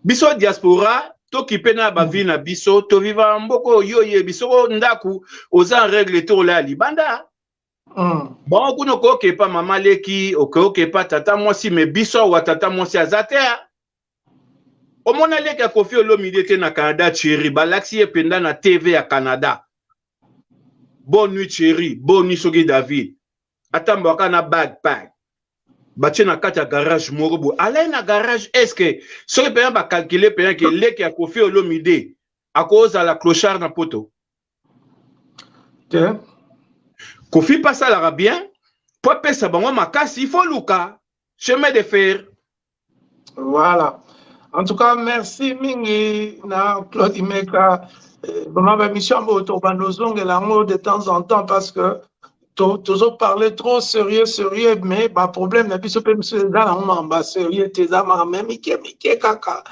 Speaker 2: biso diaspora tokipe na bavi na biso toviva mboka oyo yo oyebi soko ndako oza en règle te olaya libanda Mm. bango kuna okoyoka epa mama leki okoyoka epa tata mwasi me biso awa tata mwasi aza te omona leki ya kofi olomide te na canada cheri balakisi ye mpenza na tv ya canada bonne nuit cheri bonne nuit soki david atambwaka na bagpag batie na kati ya garage moko boye alai na garage estce soki mpenza bakalkile mpenza ke leki ya kofi olomide akozala clochard na poto te kofi mpe asalaka bien mpo apesa bango makasi ifo luka chemin de fer
Speaker 1: voilà en tout cas merci mingi na claude imeka eh, vraiment bamission yango tokobanda ozongela yango de temps en temps parce que tozo parle trop sérieux sérieux mais baproblème na biso mpe misu eza nango mamba sérieux te eza maka me mike mike kaka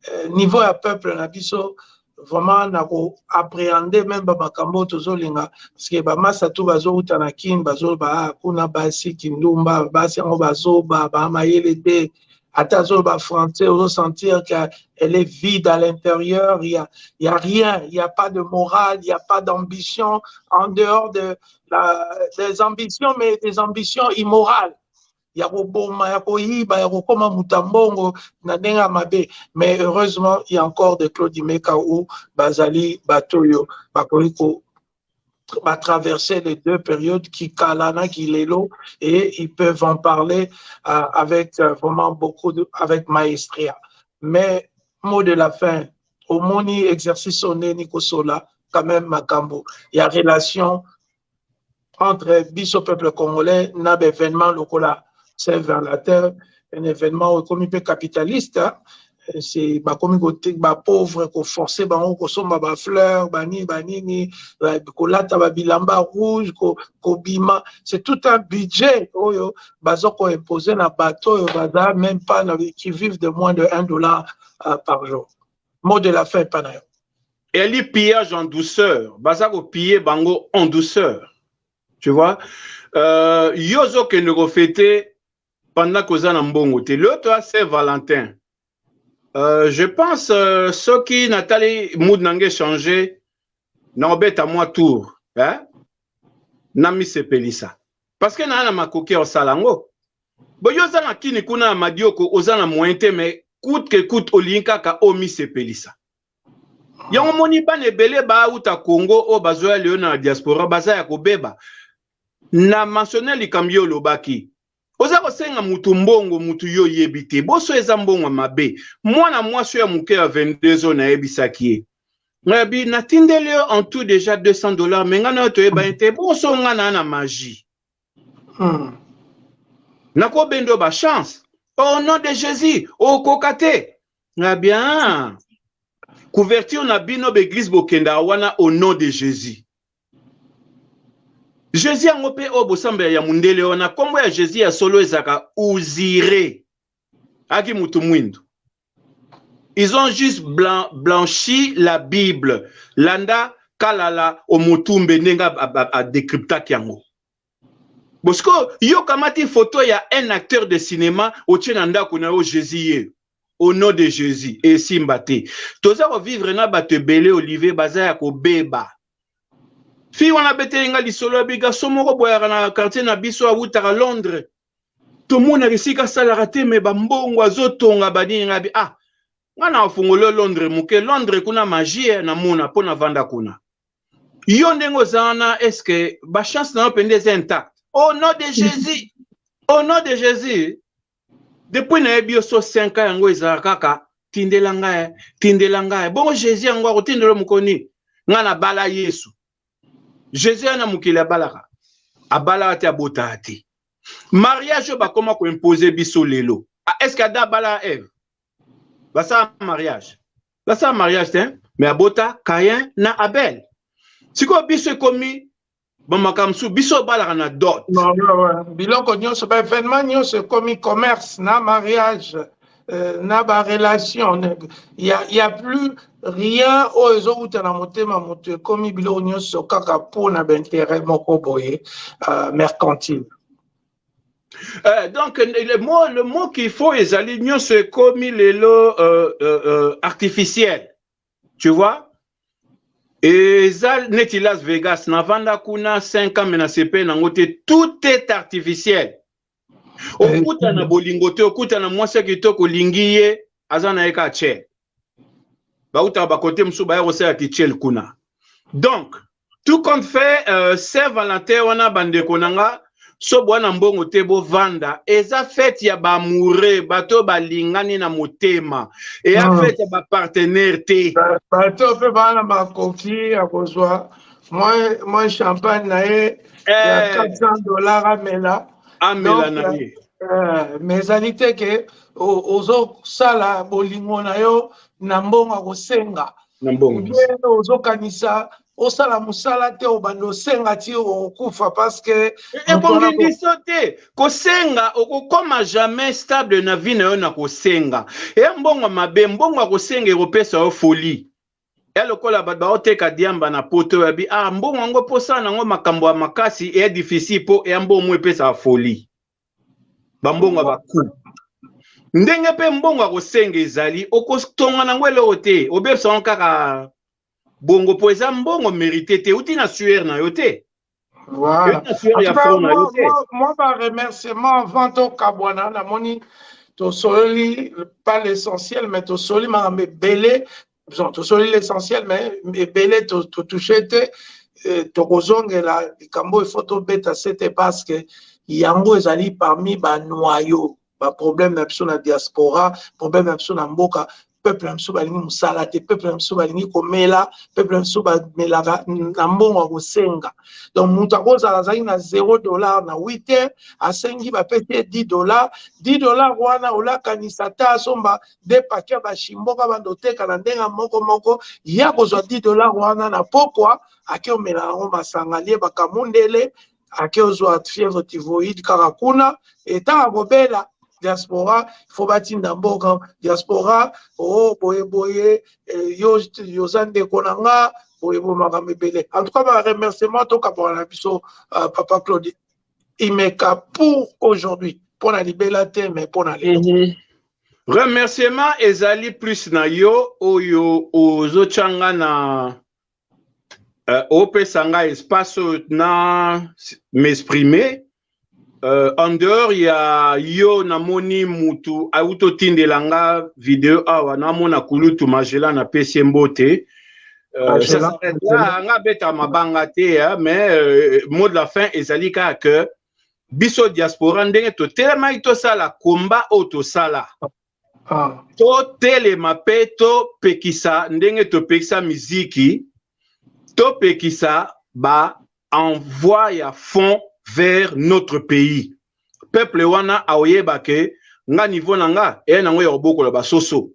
Speaker 1: eh, niveau ya peuple na biso vraiment na ko appréhender même ba makambo tozolinga parce que ba masa tout bazouta na kin bazoloba ah, kuna basi kindumba basi yango bazoba ba mayele te ata azoloba français ozosentir que elle est vide à l'intérieur il y a, il y a rien il y a pas de morale il y a pas d'ambition en dehors de la, des ambitions mais des ambitions immorales ya koboma ya koyiba ya kokoma moto ya mbongo na ndenge ya mabe mais heureusement il y a encore de claude meka ou bazali bato oyo bakoki ko batraverser les deux périodes qui kala na qui lelo et ils peuvent en parler euh, avec euh, vraiment beaucoup de, avec maestria mais mot de la fin omoni exercice oneni kosola quand même makambo ya relation entre biso peuple congolais na ba événement lokola c'est vers la terre un événement oyo ekomi mpe capitaliste c'est bakomi ba pauvre koforce bango kosomba ba fleur banini banini kolata ba bilamba rouge kobima c'est tout un budget oyo baza koimpose na bato oyo baza même pas na qui vivent de moins de 1 dollar euh, par jour mot de la fin epa na yo eyali
Speaker 2: pillage en douceur baza kopille bango en douceur tu vois euh, yo ozokende kofete pendant koza na mbongo te leo toya saint valentin euh, je pense euh, soki natali mood na ngai echange nakobeta mwa tour eh? namisepelisa parce que naa na makoki ya kosala yango Bo yo oza na kini kuna ya madioko oza na moyen te mais coûte que coûte olingi kaka omisepelisa yango moni bana ebele bauta congo oyo bazoya lelo na diaspora baza ya kobeba na mentionne likambo yo olobaki oza kosenga mutu mbongo mutu yo oyebi te boso eza mbongo ya mabe mwana mwasi oyo ya moke ya 22 oyo nayebisaki ye ngabi natindeli yo en tout deja 200 dollars me ngai nayo toyebani te boso ngai naa na magie Hmm. nakobenda yo bachance au nom de jésus okoka te na bien couverture na bino baeglise bokenda wana au nom de jésus jésus yango mpe oyo bosambela ya mondele wana nkombo ya jésus ya solo ezalaka uzire aki motu mwindu Ils ont juste blan, blanchi la Bible. Landa Kalala Omotumbe ndenge a decryptaki yango. Bosiko yo kamati photo ya un acteur de cinéma otie na ndako na yo Jésus ye. Au nom de Jésus esimba te. Toza ko vivre na bato ebele Olivier baza ya kobeba. Fille wana abeteli nga lisolo ya biga so moko boyaka na quartier na biso awutaka Londres. tomonaka esika asalaka te me bambongo azotonga banini ngai bi ah ngai na afungoli londres moke londres kuna magie namona mpo navanda kuna yo ndenge oza wana estce bachance na yo mpenza eza intact au nom de jésus au nom de jésus depuis nayebi yo so 5 ans yango ezala kaka tindela ngai tindela ngai bongo jésus yango akotindela mokoni ngai nabala yesu jesus ya na mokili abalaka abalaka te abotaa te mariage oyo bakoma koimpose biso lelo ah, est ce que ada abala eve basala mariage basala mariage te me abota kayen na abel sikoyo biso ekomi bamaka mosusu biso obalaka na dot
Speaker 1: biloko nyonso baevenement nyonso ekomi commerce na mariage euh, na ba relation ya ya plus rien oyo ezowuta na motema moto ekomi biloko nyonso kaka mpo na bainteret moko boye uh, mercantile Euh,
Speaker 2: donc le mot, le mot qu'il faut ezali nyonso ekomi lelo euh, euh, euh, artificiel tu vois eza neti las vegas navanda kuna 5 ans me nasepeli nango te tout est artificiel okuta na bolingo te okuta na mwasi ya kitoko olingi ye aza na ye kaka chel bautaka bakote mosusu baya kosala kichel kuna donc tout compte fait euh, saint valentin wana bandeko na nga so bwa na mbongo te bovanda eza fete ya baamoureux bato oyo balingani na motema eya ah. fete ya bapartenaire te bato mpe bana
Speaker 1: makoki ya kozwa mwa champagne na ye ya 400 eh. dollars amela amela na ye eh, mais ezali te ke ozosala bolingo na yo na mbongo ya kosenga ozokanisa osala mosala te obanda osenga ti okokufa parceke ebongendiso eh,
Speaker 2: eh, te kosenga okokoma jamais stable na vie na yo na kosenga eya mbongo mabe mbongo ya kosenga ekopesa yo folie ya lokola bato baoteka diamba na poto yabi ah mbongo yango mpo osala nango makambo ya makasi eya difficile mpo eya mbongo epesaka folie bambongo ya baku ndenge mpe mbongo ya kosenga ezali okotonga nango eloko te obebisa yango kaka bongo mpo eza mbongo merite te euti na suer na yo te
Speaker 1: Voilà. Moi, par remerciement avant au Kabwana, la moni, tosoli, pas l'essentiel, mais tosoli, ma belé, tosoli l'essentiel, mais belé, to touché, euh, tokozongela likambo il faut tobeta sete parce que yango ezali parmi banoyo ba problème na biso na diaspora problème na biso na mboka peuple na biso balingi mosala te peuple na biso balingi komela peuple na biso bamelaka na mbongo ya kosenga donc moto akozala azalaki na 0 dollar na 8 heures asengi bapesi ye 10 dollar 10 dollar wana olakanisa ata asomba de pake ya bashimboka banda oteka na ndenge moko moko ye akozwa 10 dollar wana na pokwa ake omela yango masanga lie bakamundele ake ozwa fièvre typhoïde kaka kuna etant akobela diaspora il faut batinda mboka diaspora o oh, boye boye eh, yo yoza ndeko na nga boye boye makambo ebele en tout cas ba remerciement tokabaka na biso euh, papa claude imeka pour aujourd'hui mpo na libela te mais mpo na lelo mhm. remerciement
Speaker 2: ezali plus na yo oyo ozotya nga na euh, opesa nga espace oyo na m'exprimer euh, en dehors ya yo namoni mutu auti otindela nga video awa namona kulutu magela napesi ye mbote euh, nga abeta mabanga te mais euh, mot de la fin ezali kaka que biso diaspora ndenge totelemaki tosala komba oyo tosala ah. totelema mpe topekisa ndenge topekisa miziki topekisa ba envoi ya fond vers notre pays peuple wana aoyeba ke nga niveau na nga eya nango ya kobokola basoso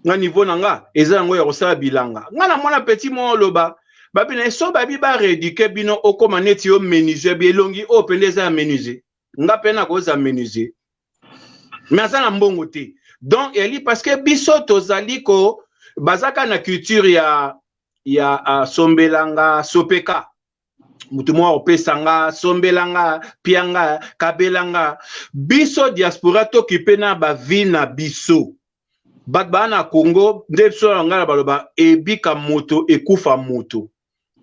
Speaker 2: nga niveau na nga eza yango ya kosala bilanga nga na mwana petit moko oloba babi na ye so babi baredike bino okoma neti yo menuisier bi elongi oyo mpenza eza ya menuisier nga pe na koza menuisier mais aza na mbongo te donc eli parce que biso tozali ko bazaka na culture ya ya uh, sombelanga sopeka moto moko akopesa nga sombela nga pia nga kabela nga biso diaspora tokipe na bavi na biso bato baa na congo nde biso na lingala baloba ebika moto ekufa moto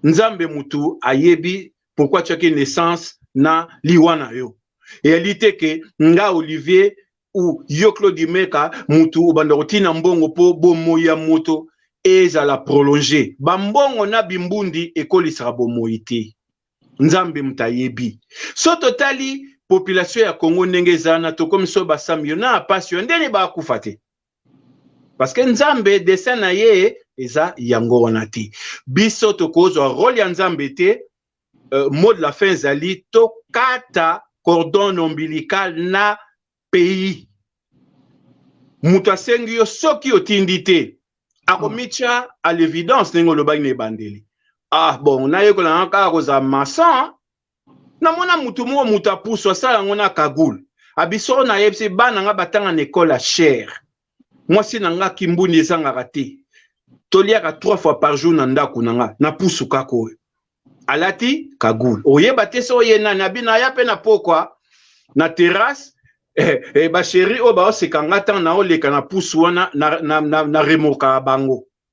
Speaker 2: nzambe mutu ayebi pourquoi atiaki naissance na liwa na yo eyali te ke nga olivier ou yo claude meka mutu obanda kotina mbongo mpo bomoi ya moto ezala prolonge bambongo na bimbundi ekolisaka bomoi te nzambe moto ayebi so totali population ya congo ndenge eza na tokomi so basami yo na apasi yo ndeni bakufa te parce que nzambe dessin na ye eza yango wana te biso tokozwa role ya nzambe te uh, mot de la fin ezali tokata cordon ombilical na pays moto asengi yo soki otindi te akomitya à l'évidence ndenge olobaki na ebandeli ah bon nayekola kaka kozala maçon namona moto moko moto ya pusu asala yango na kagoul abisoko na ye se bana nga batanga na ekole ya cher mwasi na nga kimbundi ezangaka te toliaka trois fois par jour na ndako na nga na pusu kaka oyo alati kagoul oyeba te so oye nani abina aya mpe na pokwa na terrasse eh, eh, basheri oyo baoseka nga ntango naoleka na pusu wana na, na, na, na remorkaka bango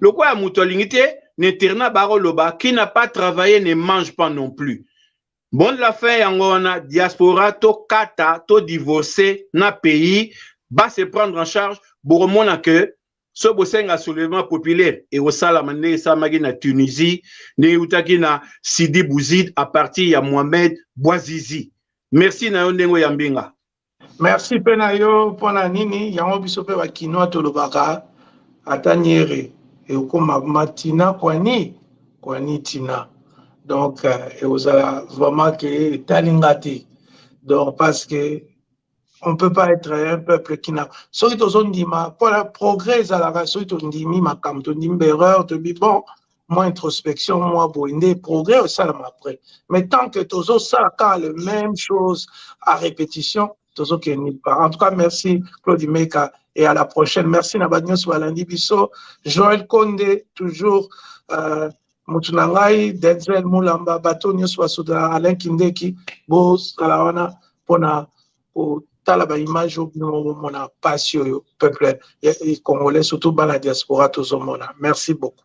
Speaker 2: lokola moto alingi te na internat bakoloba qui n'a pas travaillé ne mange pas non plus bon de la fin yango wana diaspora tokata to divorce na pays ba se prendre en charge bokomona que so bosenga soulèvement populaire ekosalama ndenge esalamaki na tunisie ndenge eutaki na sidi bouzid à partir ya mohamed bouazizi merci na yo ndenge oyambi nga Merci pe
Speaker 1: na yo pona nini yango biso pe ba kinois tolobaka ata niere ekoma matina kwani kwani tina donc euh, ekozala vraiment ke etali nga te donc parce que on peut pas être un peuple qui na soki tozondima mpona progrès ezalaka soki tondimi makambo tondimi baerreur tobi bon mwa introspection mwa boye nde progrès esalama après mais tant que tozosala kaka le même chose à répétition tozokende nulle part en tout cas merci claude meka et à la prochaine merci na bato nyonso balandi biso joel konde toujours euh, motu na ngai denzel mulamba bato nyonso basoda alain kindeki bozala wana mpona kotala ba image oyo bino bomona pasi oyo peuple congolais surtout bana diaspora tozomona merci beaucoup